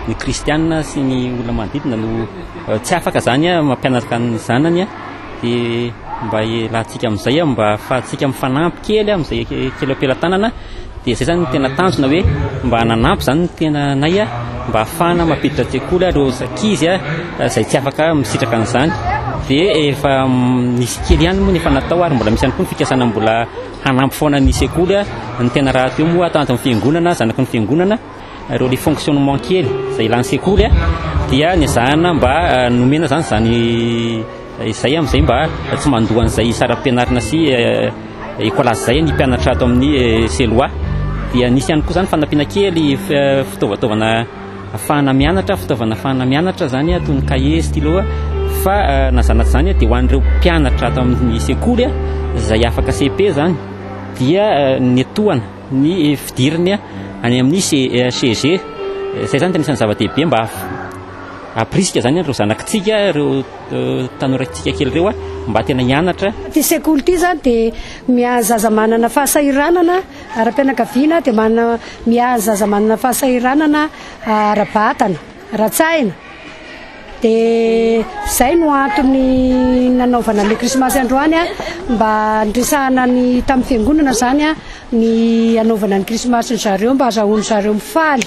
ny kristianina sy ny olona manodidina no eh, tsy afaka zany eh, mampianaraka ny zanany eh, de mba hialantsika amin'izay mba ahafahantsika mifanampy kely amin'izay kely am-pelatanana Dia izay izany no tena tanjona hoe mba hananampy izany ny tenanay mba hahafahana mampiditra an-tsekoly ireo ankizy izay tsy afaka misitraka an'izany. Dia efa nisy kely ihany moa ny efa natao ary mbola misy ihany koa ny fikasana mbola hanampy foana ny sekoly ny tena rahateo moa tanjon'ny fiangonana, zanaky ny fiangonana. Ireo les fonctionnement kely izay ilàn'ny sekoly dia nezahana mba nomena izany izany izay amin'izay mba tsy mandoa an'izay saram-pianarana sy école izay ny mpianatra ato amin'ny CELOA dia nisy ihany koa izany fanampiana kely fitaovataovana afahana mianatra fitaovana afahana mianatra izany toy ny cahier stylo fa nazanatra izany dia ho an'ireo mpianatra ato amin'ny sekoly izay afaka CEP izany dia netohana ny fidiriny any amin'ny CEG. Izay izany dia anisan'ny zava-dehibe mba hampirisika izany ireo zanakitsika, ireo tanorantsika kely ireo mba tena hianatra. Ity sekoly ity izany dia miahy zaza manana fahasahiranana ara-pianakaviana, dia manana miahy ny zaza manana fahasahiranana ara-batana, ara-tsaina. Dia izay no antony nanaovana ilay krismasy androany a, mba niresahana ny tamin'ny fiangonana izany a, ny hanaovana ny krismasy ny zareo mba hazahoany zareo mifaly.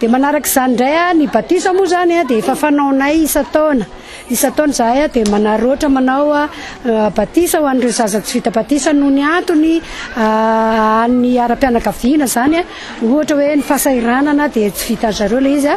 Dia manaraka izany indray a, ny batisa moa izany a dia efa fanaonay isan-taona, isan-taona izahay a dia manaroatra manao a batisa ho an'ireo zaza tsy vita batisa noho ny antony an'ny ara-pianakaviana izany a, ohatra hoe ny fahasahiranana dia tsy vitan'izareo ilay izy a.